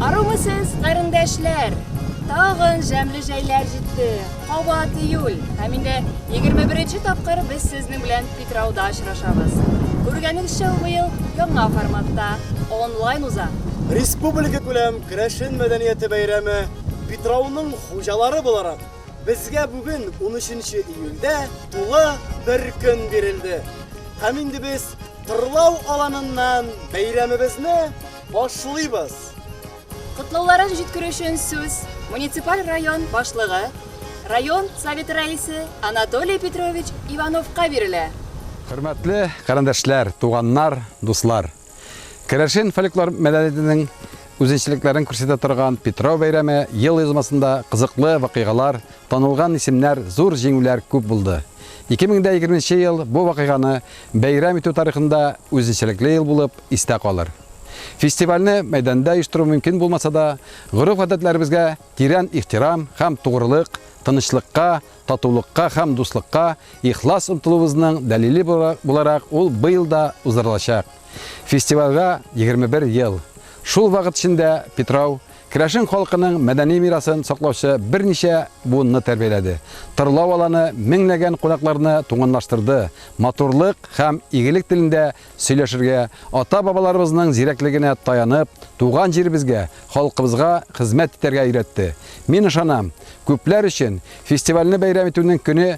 Арумысыз, карындашлар! Тагын жәмле җәйләр җитте. Кабат июль. Һәм инде 21 тапкыр без сезнең белән Питрауда очрашабыз. Күргәнегезчә, ул быел яңа форматта онлайн уза. Республика күләм керәшен мәдәнияте бәйрәме Питрауның хуҗалары буларак, безгә бүген 13 июльдә тулы бер көн бирелде. Һәм инде без Кырлау аланыннан бәйрәмебезне башлыйбыз. Котлауларын җиткерү өчен сүз муниципаль район башлыгы, район Советы рәисе Анатолий Петрович Ивановка бирелә. Хөрмәтле карендәшләр, туганнар, дуслар! Керәшен фольклор мәдәниятенең үзенчәлекләрен күрсәтә торган Питрау бәйрәме ел язмасында кызыклы вакыйгалар, танылган исемнәр, зур җиңүләр күп булды. 2020 нче ел бу вакыйганы Бәйрәм итү тарихында үзенчәлекле ел булып истә калыр. Фестивальне мәйданда оештыру мөмкин булмаса да, гореф-гадәтләребезгә тирән ихтирам һәм тугрылык, тынычлыкка, татулыкка һәм дуслыкка ихлас омтылуыбызның дәлиле буларак ул быел да уздырылачак. Фестивальгә 21 ел. Шул вакыт эчендә Питрау Керәшен халкының мәдәни мирасын саклаучы берничә буынны тәрбияләде. Тырлау аланы меңләгән кунакларны туганлаштырды, матурлык һәм игелек телендә сөйләшергә, ата-бабаларыбызның зирәклегенә таянып, туган җиребезгә, халкыбызга хезмәт итәргә өйрәтте. Мин ышанам, күпләр өчен фестивальне бәйрәм итүнең көне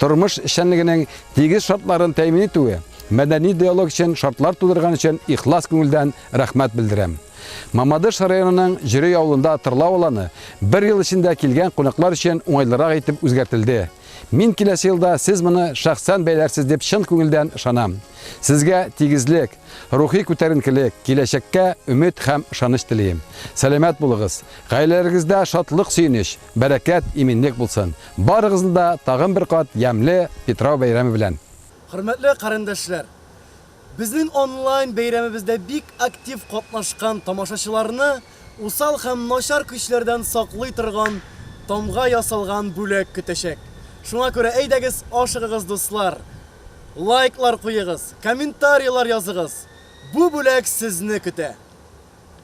Тормыш эшчәнлегенең тигез шартларын тәэмин итүе, мәдәни диалог өчен шартлар тудырган өчен ихлас күңелдән рәхмәт белдерәм. Мамадыш районының Җөрөй авылында тырлау аланы бер ел эчендә килгән кунаклар өчен уңайлырак итеп үзгәртелде. Мин киләсе елда сез моны шәхсән бәйләрсез дип чын күңелдән ышанам. Сезгә тигезлек, рухи күтәренкелек, киләчәккә өмет һәм ышаныч телим. Сәламәт булыгыз, гаиләләрегездә шатлык-сөенеч, Бәрәкәт, иминлек булсын! Барыгызны да тагын бер кат ямьле Питрау бәйрәме белән! Хөрмәтле карендәшләр! Безнең онлайн бәйрәмебездә бик актив катнашкан тамашачыларны усал һәм начар көчләрдән саклый торган тамга ясалган бүләк көтәчәк. Шуңа күрә әйдәгез, ашыгыгыз, дуслар! Лайклар куегыз, комментарийлар языгыз! Бу бүләк сезне көтә!